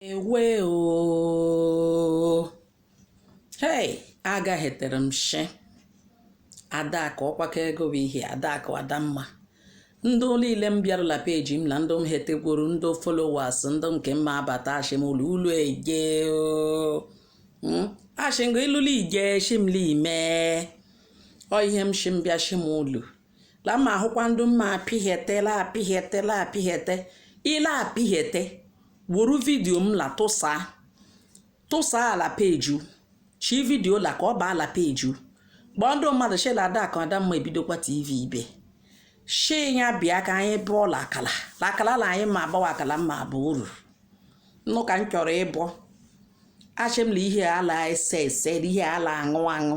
ewe o hei agaghetere m shi adaka ọkwaka ego bụ ihe adaka adamma ndị niile m bịarụla peji m na ndị m hetegwuru ndị followers ndị nke mma abata ashim ụlọ ụlọ ege hmm? ashim ga ịlọla ije shimla ime ọ ihe m shim bịa shim ụlọ la ma ahụkwa ndị mma apịghete la apịghete la apịghete ile apịghete wuru vidio m la tụsaa la peji chi vidio la ka ọ baa la peji kpọọ ndị mmadụ shela adaka adamma ebidokwa tv ibe shi ya bịa ka anyị bụọ la akala la akala la anyị ma agbawa akala mma abụ uru nnụ ka m chọrọ ịbụ ashị m la ihe ala ese ese ihe ala aṅụ aṅụ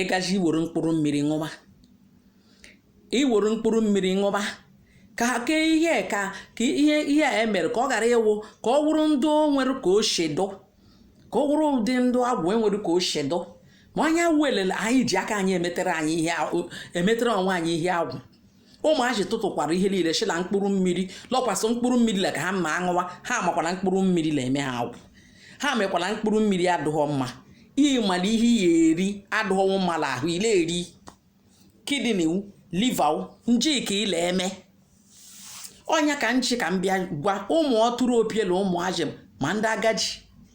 ịgaji iwere mkpụrụ mmiri ṅụba iwere mkpụrụ mmiri ṅụba ka ke ihe ka ka ihe ihe a emere ka ọ ghara ịwụ ka ọ wụrụ ndị o nwere ka o shi dụ ka ọ wụrụ ụdị ndụ agwụ enwere ka o shi dụ ma anya welele anyị ji aka anyị emetere anyị ihe a- emetere onwe anyị ihe agwụ ụmụazị tụtụkwara ihe niile shi la mkpụrụ mmiri lọkwasị mkpụrụ mmiri la ka ha ma aṅụwa ha makwana mkpụrụ mmiri la eme ha agwụ ha makwala mkpụrụ mmiri adụghọ mma ịmara ihe ya eri adụghọwo mma la ahụ ile eri kidney liver njik ile eme onye ka nchi ka m bịa gwa ụmụ ọtụrụ opiela ụmụazị ma ndị agadi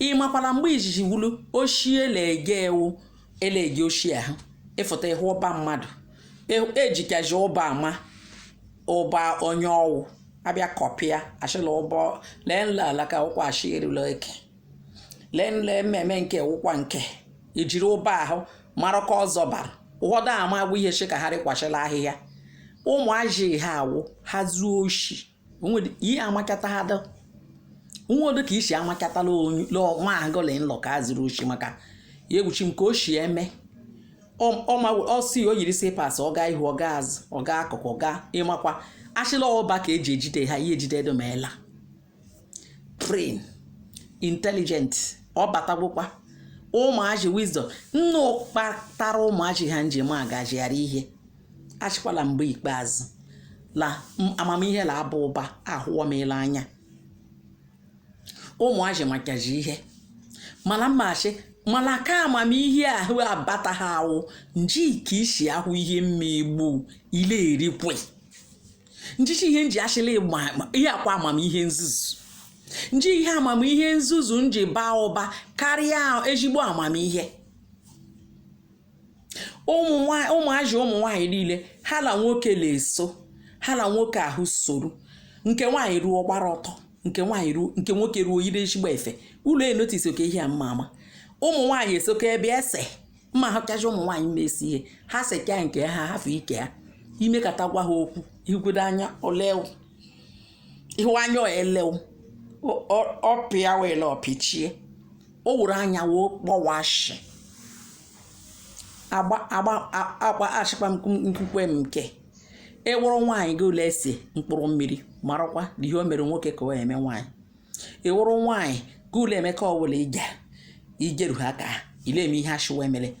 ị makwara mgbe izizi wulu ochie elege ewu elege ochie ahụ ịfụta ịhụ ụba mmadụ ejikazi ụba ama ụba onye ọwụ abịa kọpịa ashịla ụbọ lee nla alaka ụkwa ashị erula eke lee nle mmemme nke ụkwa nke ijiri ụba ahụ mara ka ọzọ bara ụfọdụ ama agwụ ihe chi ka ha rịkwachila ahịhịa ụmụazị ha awụ ha zuo oshi onwedị ihe amakata ha dọ nwodo ka isi amakatala onye lọ- nwa agụlị nlọ ka a zuru oshi maka ya egwuchi m ka o shi eme ọ ọ ma ọ si o yiri sịpas ọ gaa ihu ọ gaa azụ ọ gaa akụkụ ọ gaa ịmakwa ashịla ọba ka eji ejide ha ihe ejide edomeela brain intelligent ọ batagwụkwa ụmụazị wisdom nnụ kpatara ụmụazị ha njem agazigharị ihe ashịkwala mgbe ikpeazụ la amamihe la aba ụba ahụwa m la anya ụmụazị makaji ihe mana mmachi mana ka amamihe ahụ abata ha awụ nji ka isi ahụ ihe mmegbu ile erikwe njishi ihe nji ashịla ihe akwa amamihe nzuzu nji ihe amamihe nzuzu nji baa ụba karịa ezigbo amamihe ụmụazị ụmụ nwaanyị niile ha na nwoke na-eso ha na nwoke ahụ soro nke nwaanyị ruo gbara ọtọ nke nwoke ruo yiri ezigbo efe ị la-enotice oke ihe a mma ama ụmụ nwaanyị esoka ebe ese mma ha kacha ụmụ nwaanyị na-ese ihe ha seka nke ha hafụ ike ha i mekata gwa ha okwu igwudo anya olew ihu anya elew ọpịa wele ọpịchie o were anya wee kpọwashi agba achịkwa nkwukwe m nke ị wụrụ nwaanyị gị la-ese mkpụrụ mmiri marakwa na ihe o mere nwoke ka ọ eme nwaanyị ị wụrụ nwaanyị gị la-eme ka ọ wụ la ije ijeru ha ka ị la-eme ihe a shị wa emele